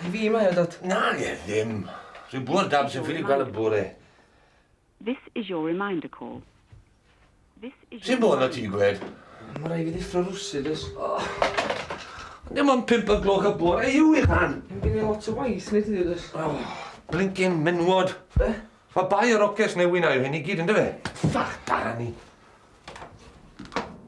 I fi mae o, Dad. Na, ie, ddim. Rwy'n bwrdd dad sy'n ffili gweld y bore. This is your reminder call. Sy'n bod na ti'n gwed? Mae rhaid fi ddeffro rwsyd ys. Ond dim ond pimp o'r gloch y bore i yw i fan. Yn gen i lot o waith nid yw ys. Blincin menwod. Be? Mae bai o'r oces newyn a'i hyn i gyd yn dy fe? Ffach barni.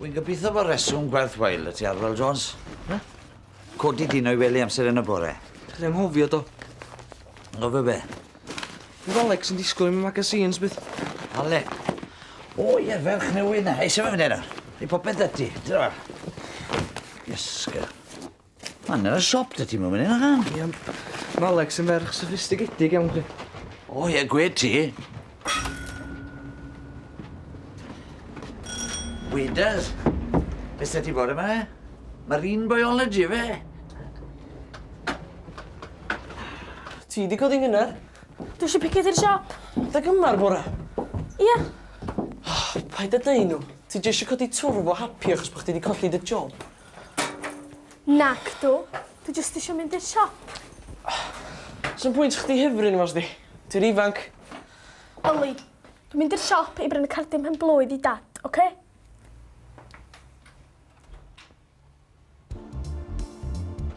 Wy'n gobeithio bod reswm gwerth wael y ti Arwel Jones. Na? Codi dyn o'i wely amser yn y bore. Dwi'n ymhofio do. Ngofio be? Bydd Alex yn disgwyl i mi magazines bydd. Ale. O ie, ferch newydd na. Eisiau fe fyny yna. Ei popeth da ti. Dyna. Iesga. Man ar y siop da ti moyn hynna gan? Ie ond ma Alex yn ferch soffistigedig iawn chdi. O ie gwed ti. Wedas. Be sa ti bod yma? Marine biology fe? Ti di codi ngynnar? Dwi eisiau piced i'r siop. Da gyma'r bora? Ia. Oh, paid â deu nhw. Ti jyst eisiau codi twrf o happy achos bod chdi wedi colli dy job. Nacdw. Dwi jyst isio mynd i'r siop. Sa'm pwynt chdi hyfryd yma os di. Ti'n ifanc. Yli. Dwi'n mynd i'r siop i brynu cardyn pen blwydd i dad, oce? Okay?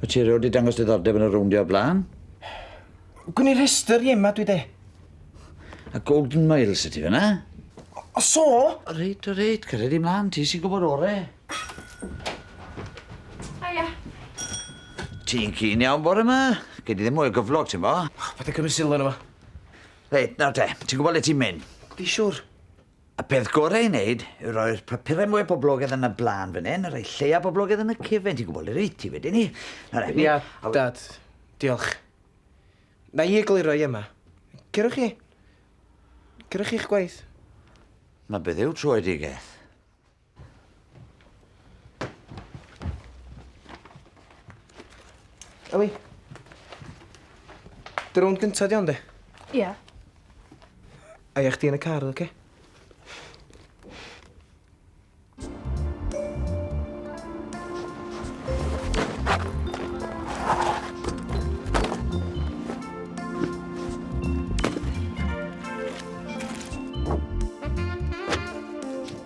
Wyt ti erioed 'di dangos diddordeb yn y rowndio o'r blaen? Gwn i rhestr i Emma dwi de. A Golden Miles ydi fe na? O so? O reit, o reit, cyrra di mlan, ti sy'n gwybod ore. Haia. Ti'n cyn iawn bore yma? Gei di ddim mwy o gyflog, ti'n bo? Paid â cymryd sylw yno fo. Reit, nawr te, ti'n gwybod le ti'n mynd? Fi siwr. Y peth gorau i wneud yw rhoi'r papurau mwy poblogaidd yn y blaen fan hyn, a rhoi lleia poblogaidd yn y cefen, ti'n gwybod le rwyt ti wedyn ni. Ia, Dad. Diolch. Na i egluro i Emma. Cerwch chi. Cerwch chi'ch gwaith. Na beth yw troedigeth? Ellie. Dy rownd gyntaf di ond e? Ie. A ia chdi yn y car, oce? Okay?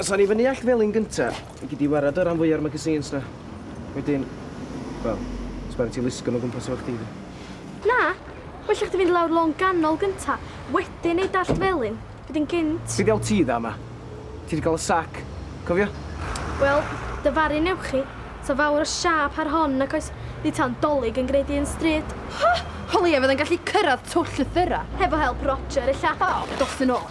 Os awn ni fyny Allt Felin gynta, i gei di warad o ran fwya o'r magazines na. Wedyn, wel, sbia arna ti lusgo'n o gwmpas efo chdi de. Na, well i chdi fynd lawr lôn ganol gynta, wedyn neud Allt Felin, wedyn gynt. Be' diawl ti dda 'ma? Ti 'di ga'l y sac, cofio? Wel, dy faru newch chi, sa fawr o siâp ar hon nac oes, nid tawn Dolig yn gneud un stryd. Ho! O leia fyddai'n gallu cyrradd twll y thyra. Hefo help Roger, ella. O, dos yn ôl.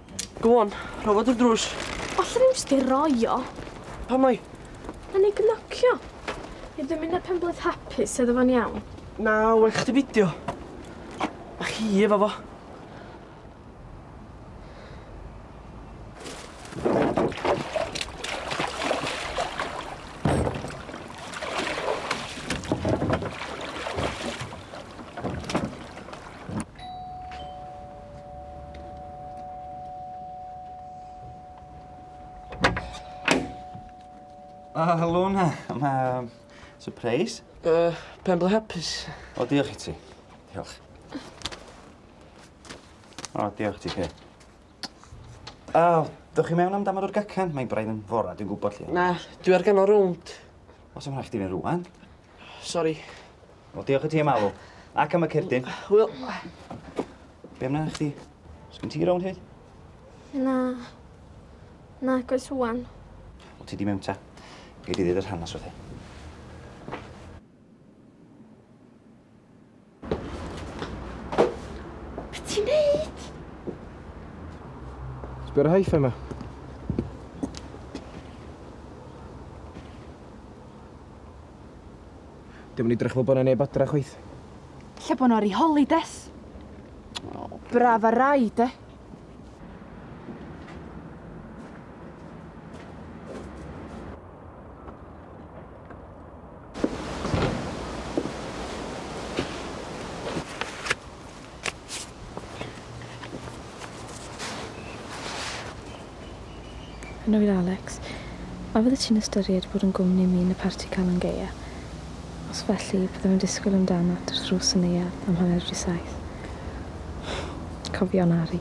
Go on, rho fo drwy'r drws. Falle ddim jyst ei roi o. Pam mai? Nawn ni gnocio. I ddymunau penblwydd hapus, sa iddo fo'n iawn? Na, well chdi beidio. A chi efo fo. Ah, Luna, mae... Surprise? Uh, pen ble hapus. O, diolch i ti. Diolch. O, diolch ti, Kay. O, dych chi mewn am damod o'r gacan? Mae'n braidd yn fora, dwi'n gwybod lle. Na, dwi ar ganol rownd. Os ymwneud chdi fe rwan? Sori. Wel, diolch i ti am alw. Ac am y cerdyn. Hwyl. Be amdana chdi? Sgyn ti rown hyd? Na. Na, goes rwan. Wel, ti di mewn ta. Gei di ddweud yr hanes wrth i. Be ti'n neud? Sbio'r haiff yma. Dim yn edrych fel bod yna neb adra chwaith. Lle bod nhw'n rhoi des? O, braf ar rai, de. Yn oer Alex, a fyddet ti'n ystyried bod yn gwmni min y parti Calan Gaea? Os felly, byddem yn disgwyl amdanat wrth ddrws y neuadd am hanner wedi saith. Cofion Ari.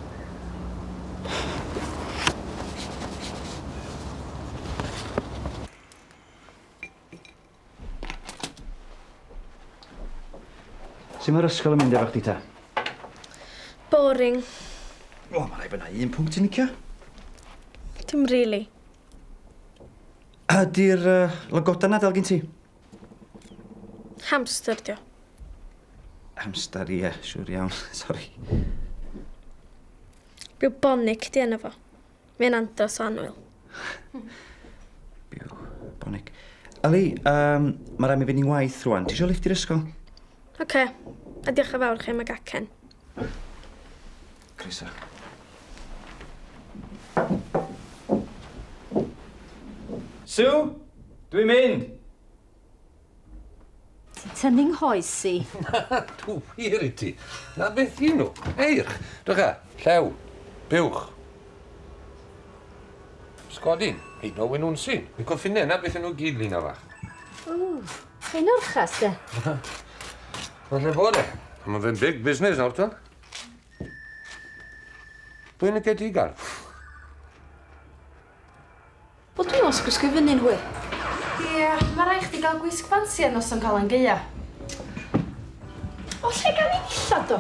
Su' mae'r ysgol yn mynd efo chdi ta? Boring. O, mae rhaid bod yna un pwnc ti'n licio. Dim rili. Ydy'r uh, logoda na dal gen ti? Hamster dio. Hamster, ie, yeah, siwr iawn. Sori. Bubonic di enw fo. Mae'n andros o annwyl. Byw. Bonig. Ali, um, mae rhaid mi fynd i'n waith rwan. Ti eisiau lift i'r ysgol? Oce. Okay. A diolch yn fawr chi am y gacen. Croeso. Sue, dwi'n mynd! Ti'n tynnu nghoes i. Dw wir i ti. Na beth i nhw. Eirch. Drycha. Llew. Buwch. Sgodyn. Hyd o wyn wnsyn. Y coffinau na beth i nhw gyd lina fach. Ww. Ein orchas de. Falle bod e. Mae fe'n big business nawr ta. Pwy'n y cedigar? Wel dwi os gwisgo fyny'n hwyr. Ia, ma rai chdi gal gwisg ffansi ar noson Calan Gaea. O lle gawn ni ddillad do?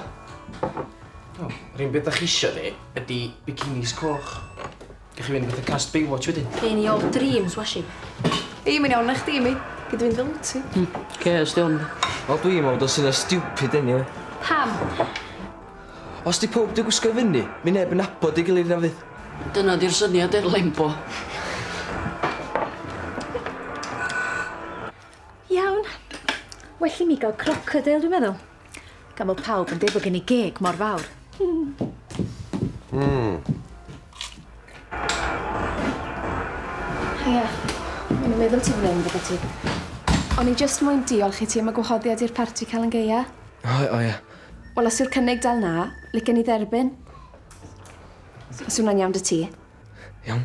O, yr un beth dach chi isio fi ydi bikinis coch. Gech chi fynd fatha cast Baywatch wedyn. Gei ni all dreams washi. Ei, mae'n iawn na chdi mi. Gei di fynd fel wt ti. Hmm, oce, os di o'n. Wel dwi'm yn meddwl bod o'n syniad stupid eniwe. Pam? Os 'di powb 'di gwisgo i fyny, mi neb yn nabod ei gilydd na fydd? Dyna 'di'r syniad i'r lembo. Iawn. Well i mi ga'l crocodile dwi'n meddwl. Gan bo' pawb yn deud bo' gen i geg mor fawr. Hmm. Hiya. O'n i'n meddwl ti fyn 'yn gyda ti. O'n i jyst moyn diolch i ti am y gwahoddiad i'r parti Calan Gaea. O o ia. Wel os yw'r cynnig dal na, licen i dderbyn. Os yw hwnna'n iawn 'da ti. Iawn.